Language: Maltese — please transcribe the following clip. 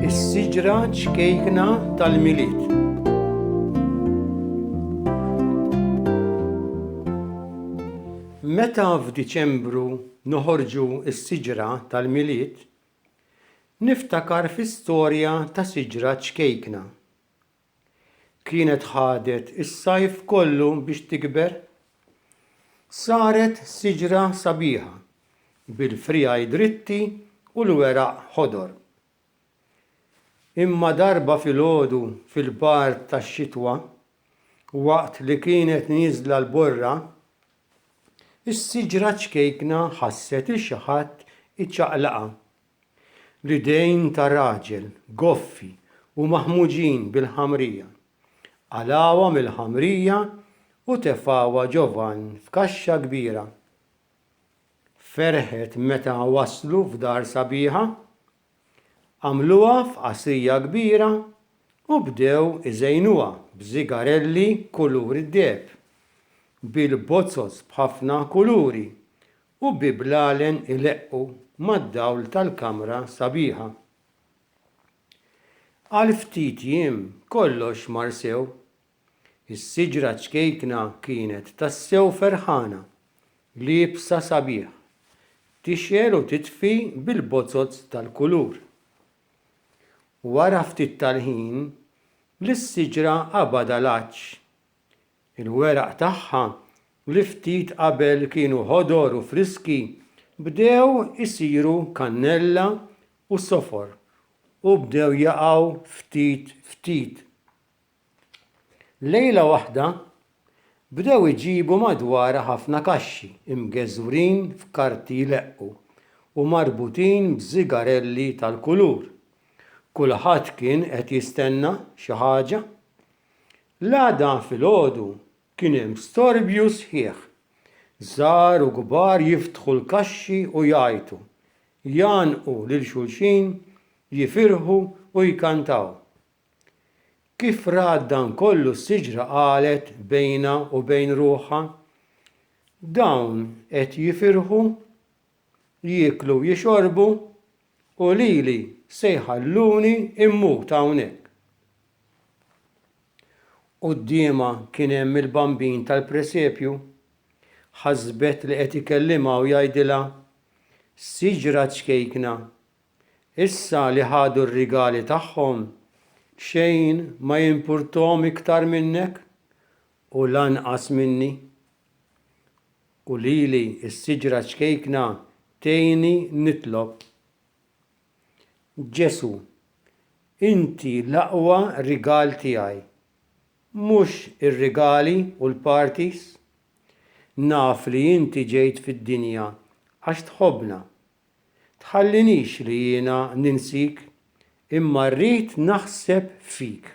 Is-siġra ċkejkna tal-Milied. Meta f'Diċembru noħorġu s-siġra tal-Milied, niftakar fi storja ta' siġra ċkejkna. kienet ħadet is-sajf kollu biex tikber, saret siġra sabiħa bil-friegħi dritti u l-weraq ħodor. Imma darba filgħodu fil-bard tax-xitwa, waqt li kienet nieżla l-borra, is-siġra ċkejkna ħasset 'il xi ħadd iċaqlaqha. L-idejn ta' raġel, goffi u maħmuġin bil-ħamrija. Qalgħuha mill-ħamrija u tefgħuha ġo vann f'kaxxa kbira. Ferħet meta waslu f'dar sabiħa. Għamluha f'qasrija kbira u bdew iżejnuha b'żigarelli kulur id-deheb, bil-bozoz b'ħafna kuluri U bi blalen ileqqu mad-dawl tal-kamra sabiħa. Għal ftit jiem kollox mar sew. Is-siġra ċkejkna kienet tassew ferħana, liebsa sabiħ, tixgħel u titfi bil-bozzoz tal-kulur. Wara ftit tal-ħin, lis-siġra qabadha l-għatx. Il-weraq tagħha, li ftit qabel kienu ħodor u friski, bdew isiru kannella u sofor u bdew jaqgħu ftit ftit. Lejla waħda, bdew iġibu madwarha ħafna kaxxi mgeżwrin f'karti jleqqu u marbutin b'żigarelli tal-kulur. Kulħadd kien qed jistenna xi ħaġa. L-għada filgħodu kien hemm storbju sħiħ. Żgħar u kbar jiftħu l-kaxxi u jgħajtu, jgħannqu lil xulxin, jifirħu u jkantaw. Kif rat dan kollu s-siġra qalet bejnha u bejn ruħha, Dawn qed jifirħu? jieklu u jixorbu u lili se jħalluni mmut hawnhekk. Quddiemha kien hemm il-Bambin tal-presepju. Ħasbet li qed ikellimha u jgħidilha, Siġra ċkejkna, issa li ħadu r-rigali tagħhom, xejn ma jimpurthom iktar minnek u lanqas minni. U lili s-siġra ċkejkna tgħinni nitlob. Ġesù, inti l-aqwa rigal tiegħi, mhux ir-rigali u l-parties. Naf li inti ġejt fid-dinja għax tħobbna. Tħallinix li jiena ninsik, imma rrid naħseb fik.